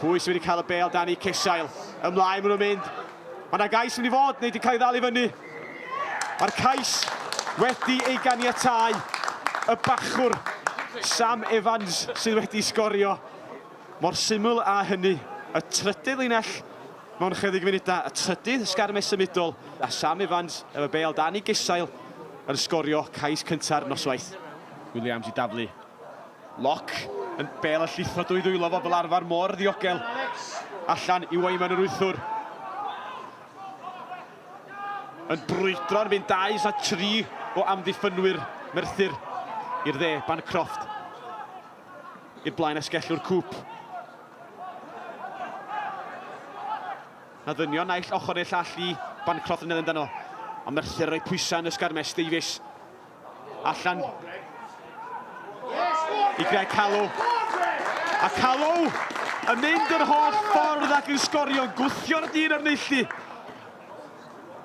Pwy sydd wedi cael y bel dan eu cesail? Ymlaen maen nhw'n mynd. Mae yna gais mynd i fod, neu wedi cael ei ddal i fyny. Mae'r cais wedi ei ganiatau. Y bachwr Sam Evans sydd wedi sgorio. Mor syml a hynny. Y trydydd linell mewn chydig funudau, y trydydd sgarmes symudol, a Sam Evans efo bel dan ei gesail yn sgorio cais cynta'r noswaith. Williams i daflu. Lock yn bel y llithro dwy ddwylo fo fel arfer mor ddiogel. Allan i Wyman yr wythwr. Yn brwydro'n fynd 2-3 o amddiffynwyr Merthyr i'r dde, Bancroft i'r blaen esgellwr Cŵp. Na ddynion naill ochr neu llall i Bancroft yn edrych amdano. Ond Merthyr roi pwysau yn ysgarmes Davies. Allan. I Greg Callow. A Callow yn mynd yr holl ffordd ac yn sgorio, gwthio'r dyn ar neillu.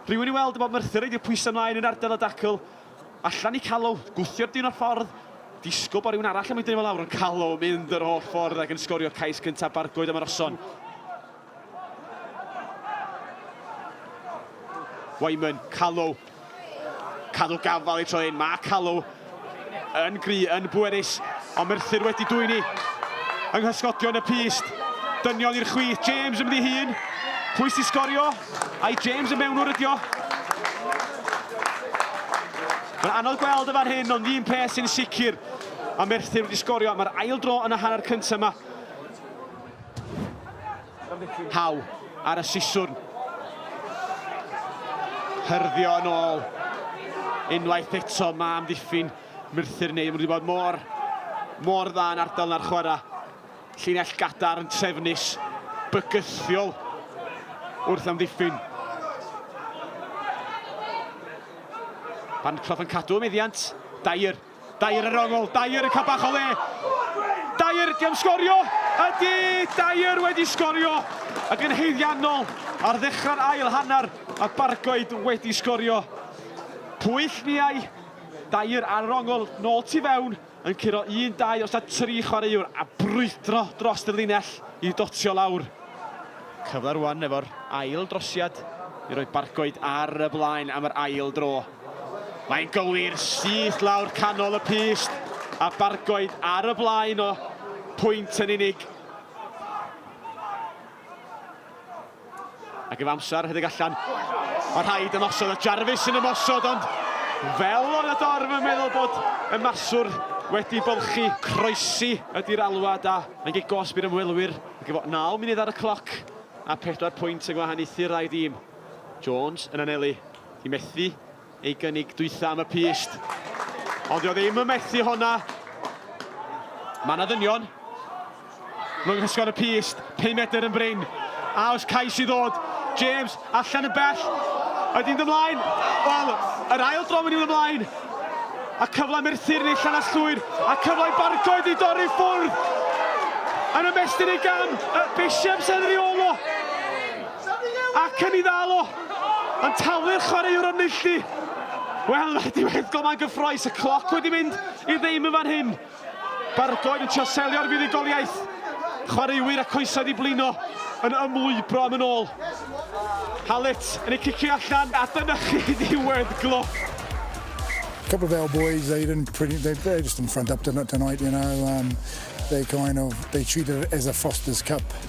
Rhywun i weld y bod Merthyr wedi pwysau ymlaen yn ardal y dacl. Allan i Callow, gwthio'r dyn o'r ffordd. Disgwyl bod rhywun arall yn mynd yn ei fel awr, ond Callow yn mynd yr holl ffordd ac yn sgorio cais cyntaf Bargoed am yr Oson. Wyman, Callow. Cadw gafal ei tro hyn, mae Callow yn gry, yn bwerus, ond Merthyr wedi dwyni yng nghysgodion y pyst. Dynion i'r chwith, James ymddi hun. Pwy sy'n sgorio? Ai James y mewnwr ydio? Mae'n anodd gweld y fan hyn, ond un peth sy'n sicr, mae Merthyr wedi sgorio. Mae'r ail dro yn y hanner cyntaf yma. How ar y siswrn. Hyrddio yn ôl. Unwaith eto, mae amddiffyn Merthyr neu. Mae wedi bod mor, mor dda yn ardal na'r chwarae. Llinell gadar yn trefnus, bygythiol wrth amddiffyn. Bancroft yn cadw meddiant, Dyer. Dyer ar ongl, Dyer yn cael bach o le, Dyer, di am sgorio? Ydy, Dyer wedi sgorio ac yn haeddiannol ar ddechrau'r ail hanner a Bargoed wedi sgorio. Pwyll niau, Dyer ar yr ongl, nôl tu fewn, yn curo un, dau os na tri chwaraewr a brwydro dros y linell i dotio lawr. Cyfle rwan efo'r ail drosiad i roi Bargoed ar y blaen am yr ail dro. Mae'n gywir syth lawr canol y pyst a Bargoed ar y blaen o pwynt yn unig. Ac ef amser rhedeg allan. Mae rhaid ymosod a Jarvis sy'n ymosod ond fel o'n y dorf yn meddwl bod y maswr wedi bolchi. Croesi ydy'r alwad a mae'n gig gosb i'r ymwelwyr. Ac efo 9 munud ar y cloc a 4 pwynt yn gwahaniaethu rai dîm. Jones yn anelu. Di methu ei gynnig dwytha am y pyst. Ond dio ddim yn methu honna. Mae na ddynion. Mae'n gysgod y pyst. 5 medr yn brin. A os cais i ddod. James, allan yn bell. Ydy'n ymlaen. Wel, yr ail dro mynd i'n ymlaen. A cyfle merthyr neu llanast llwyr. A cyfle i barcoed i dorri ffwrdd. Yn ymestyn ei gam. Y bisiam sy'n rheolo. Ac yn ei ddal o. Antawy'r chwaraewr o Nulli! Wel, mae wedi wneud golau gyffroes, y cloc wedi mynd i ddim yn fan hyn. Bargoed yn trio selio'r fuddugoliaeth. Chwaraewyr a coesau wedi blino yn ymlwybro am yn ôl. Hallett yn ei cicio allan, a dyna chi ddiwedd gloc. couple of our boys, they didn't pretty, they, they just didn't front up tonight, you know. Um, they kind of, they treated it as a Foster's Cup.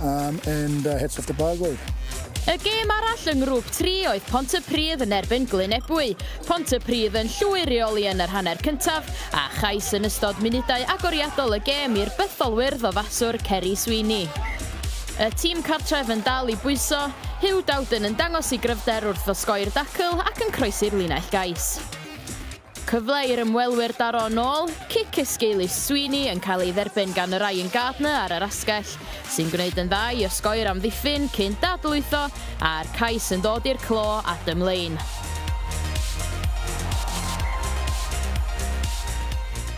Um, and uh, heads off to Bargoed. Y gêm arall yng ngrŵp 3 oedd Pont y Pridd yn erbyn Glyn Ebwy. Pont y Pridd yn llwyr i oli yn yr hanner cyntaf, a chais yn ystod munudau agoriadol y gêm i'r bytholwyr ddofaswr Ceri Sweeney. Y tîm cartref yn dal i bwyso, Hugh Dowden yn dangos i gryfder wrth osgoi'r dacl ac yn croesi'r linell gais. Cyfle i'r ymwelwyr daro yn ôl, cic esgeulus Sweeney yn cael ei dderbyn gan Ryan Gardner ar yr asgell, sy'n gwneud yn dda i osgoi i'r amddiffyn cyn dadl lwytho, a'r cais yn dod i'r clo, Adam Lane.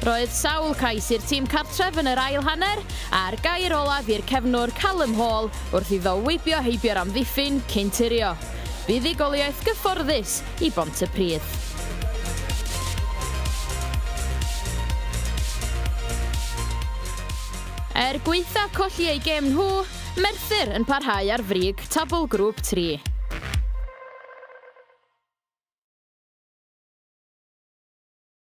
Roedd sawl cais i'r tîm cartref yn yr ail hanner, a'r gair olaf i'r cefnwr Callum Hall wrth iddo weibio heibio'r amddiffyn cyn turio. Buddugoliaeth gyfforddus, i Bontypridd. Er gweitha colli ei gêm nhw, Merthyr yn parhau ar frig tabl grŵp 3.